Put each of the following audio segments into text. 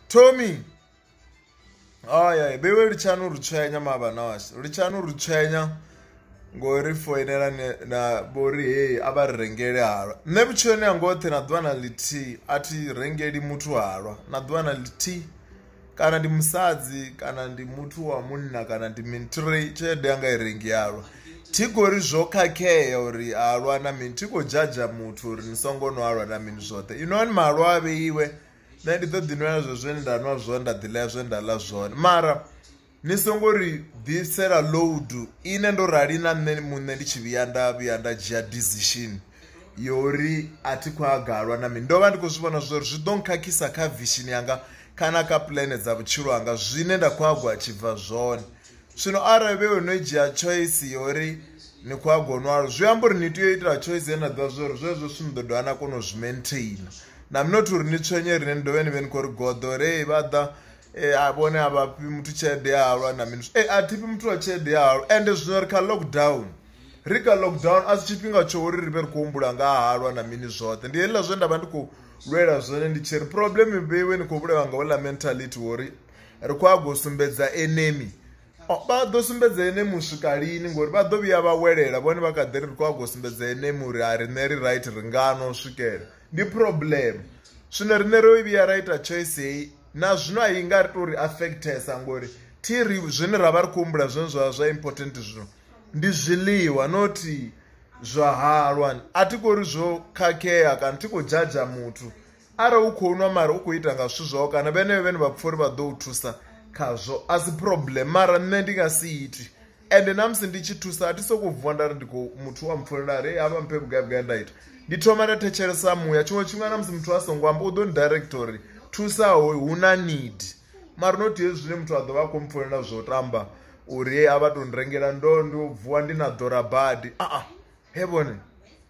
Tommy. Haya, bewe litshani urutshwenya mabana washe. Litshani urutshwenya ngori foinela ne- na bori hey a vha ri rengele halwa. Nṋe vhutshiloni hanga hoṱhe na ḓuvha na ḽithihi a thi rengeli muthu halwa. Na ḓuvha na ḽithihi kana ndi musadzi kana ndi muthu wa munna kana ndi mini thi re tshelede yanga i rengi halwa. Thi khou ri zwo khakhea uri halwa na mini thi khou dzhadzha muthu uri ni songo nwa halwa na mini zwoṱhe. Inwani mahalwa a vheiwe nṋe ndi ḓo ḓi nwela zwe zwe nda nwa zwone nda ḓi ḽa zwe nda ḽa zwone mara ni songo ri ḓisela load ine ndo rali na nṋe muṋe ndi tshi vhuya nda vhuya nda dzhia decision yori a thi khou agalwa na mini ndo vha ndi khou zwi vhona zwori zwi ḓo nkhakhisa kha vision yanga kana kha puḽane dza vhutshilo hanga zwine nda khou hagwa tshibva zwone. zwino arali vhe no dzhia choice ya uri ni khou a gonwalo zwi amba uri ni tea u itela choice ye na ḓivha zwa uri zwezwo zwithu ni ḓo dovha na kona u zwi maintaina na mnot uri ni tswenye rine ni dovhe ni vhe ni khou ri goḓo re vha ḓa eh, a vhone a vha fhi muthu tshelede ya halwa na mini e a thifhi muthu wa tshelede ya halwa ende zwino ri kha lockdown ri kha lockdown a si tshifhinga tsho uri ri vhe ri khou humbula nga ha halwa na mini zwoṱhe ndi heḽila zwe nda vha ndi khou lwela zwone ndi tshi ri problem vheiwe ni khou vhulawa nga uḽa mentality wori ri khou ago sumbedza enemi vha ḓo sumbedza ene muswika lini ngori vha ḓo vhuya vha welela vhone vha kha ḓi ri ri khou ago sumbedza ene muri a riṋe ri right ri ngano swikela ndi problem zwino riṋe ro vhuya ra ita choice heyi na zwino a i nga ri to ri affectesa ngori thi ri zwine ra vha ri khou humbula zwine zwa zwa important zwino ndi zwiḽiwa nothi zwa halwa a thi khou ri zwo khakhea kana thi khou dzhadzha muthu Arali u khou nwa mara u khou ita nga zwithu zwau kana vhenevho vhane vha pfha uri vha ḓo u thusa khazwo a si problem mara nṋe ndi nga si iti ende na musi ndi tshi thusa a thi sokou vuwa nda ri ndi khou muthu wa mpfulela ri havha mphe vhugai vhugai nda ita ndi thoma nda thetshelesa muya tshiṅwe tshifhinga na musi muthu a songo amba u ḓo ni director uri thusa hoyu hu na need mara not hezwi zwine muthu a ḓo vha a khou mpfulela zwo tamba uri a vha tou ni rengela ndo ndi vuwa ndi na ḓora badi a he vhone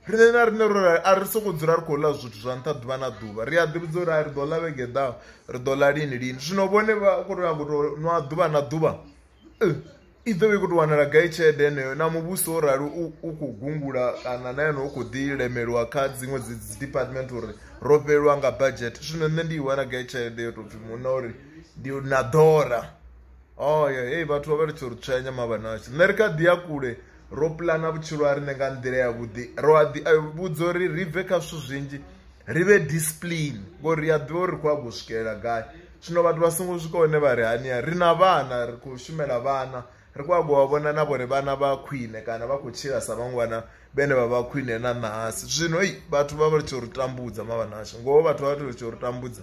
riṋe na riṋe ro a ri sokou dzula ri khou ḽa zwithu zwa nṱha ḓuvha na ḓuvha ri a ḓi vhudza uri a ri ḓo ḽa vhege ḓaho ri ḓo ḽa lini lini zwino vhone vha khou tou nyago tou nwa ḓuvha na ḓuvha i ḓo vha i khou tou wanala gai tshelede heneyo na muvhuso wo rali u khou gungula kana na yone u khou ḓi lemeliwa kha dziṅwe dzi dzi department uri ro fhelelwa nga budget zwino nṋe ndi i wana gai tshelede yo tou pfhi muṋe uri ndi na ḓora oh ya hey vhathu vha vha litsho ri tshwenya mabanashu nṋe ri kha ḓi ya kule ro pulana vhutshilo ha riṋe nga nḓila ya vhuḓi ro a ḓi vhudza uri ri bve kha zwithu zwinzhi ri vhe discipline ngori ri a ḓivha uri ri khou a go swikelela gai zwino vhathu vha songo swika hone vha ri hania ri na vhana ri khou shumela vhana ri khou a go vha vhona na vhore vhana vha khwine kana vha khou tshila sa vhaṅwe vhana vhene vha vha khwine na ṋahasi zwino i vhathu vha vha litsho ri tambudza mavhanashu ngoho vhathu vha vha litsho ri tambudza